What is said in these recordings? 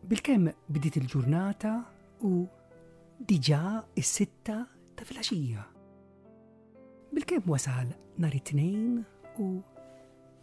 Bil-kem bdiet il-ġurnata u diġa is-sitta ta' filgħaxija. Bil-kem wasal nhar it-tnejn u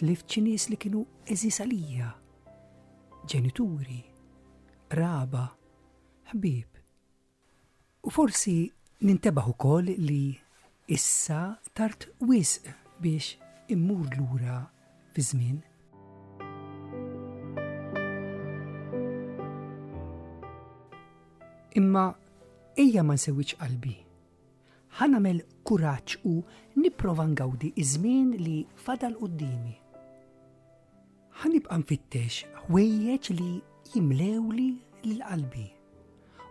Tlift xi nies li kienu eżis għalija, ġenituri, qraba, ħbieb. U forsi nintebaħ ukoll li issa tard wisq biex immur lura fi żmien. Imma ejja ma nsewwiċ qalbi Ħa nagħmel kuraġġ u nipprova ngawdi ż-żmien li fadal quddiemi. Ħa nibqa' nfittex ħwejjeġ li jimlewli lil qalbi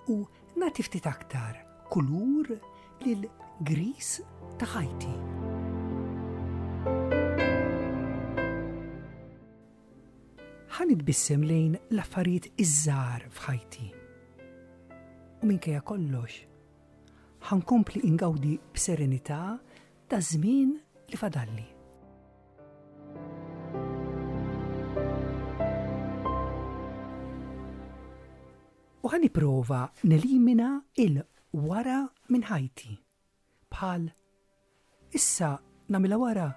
u nagħti ftit aktar kulur lil gris ta' ħajti. Ħa nitbissem lejn l-affarijiet iż-żgħar f'ħajti. U minkejja kollox, Ħa nkompli ingawdi b'serenità taż-żmien li fadalli. U ħa nipprova nelimina il-wara minn ħajti bħal Issa nagħmilha wara.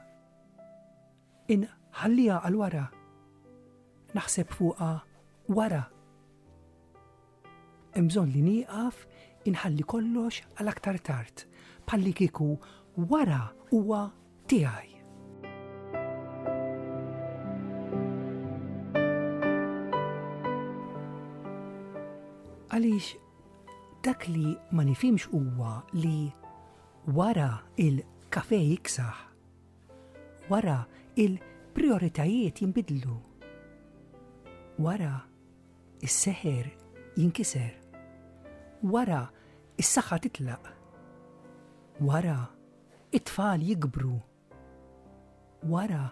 Inħalliha għal wara. Naħseb fuqha wara. Hemm bżonn li nieqaf inħalli kollox għal aktar tard, bħallikieku wara huwa tiegħi. Għaliex Dak li ma nifhimx huwa li wara il-kafe jiksaħ, wara il-prijoritajiet jinbidlu, wara is-seħer jinkiser, wara is-saħħa titlaq, wara it-tfal jikbru Wara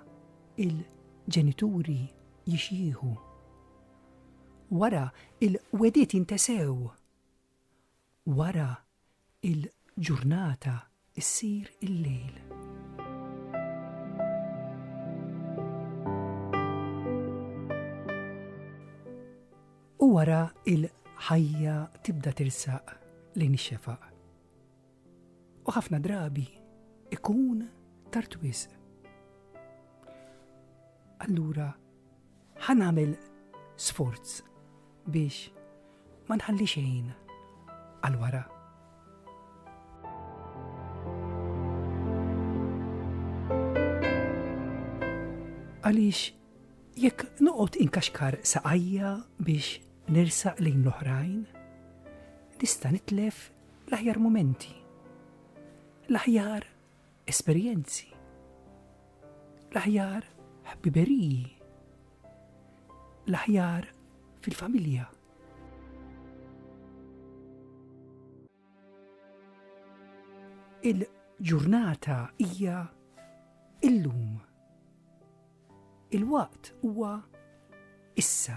il-ġenituri jixjieħu. Wara il-wegħdiet jintesew. Wara il-ġurnata issir il-lejl. U wara il-ħajja tibda tirsaq lejn ix-xefaq. U ħafna drabi ikun tard wisq. Allura ħa nagħmel sforz biex ma nħalli xejn għal wara. Għaliex jekk noqgħod inkaxkar saqajja biex nersaq lejn l-oħrajn, nista' nitlef L-aħjar mumenti. L-aħjar esperjenzi. L-aħjar ħbiberiji. L-aħjar fil-familja. Il-ġurnata hija illum. Il-waqt huwa issa.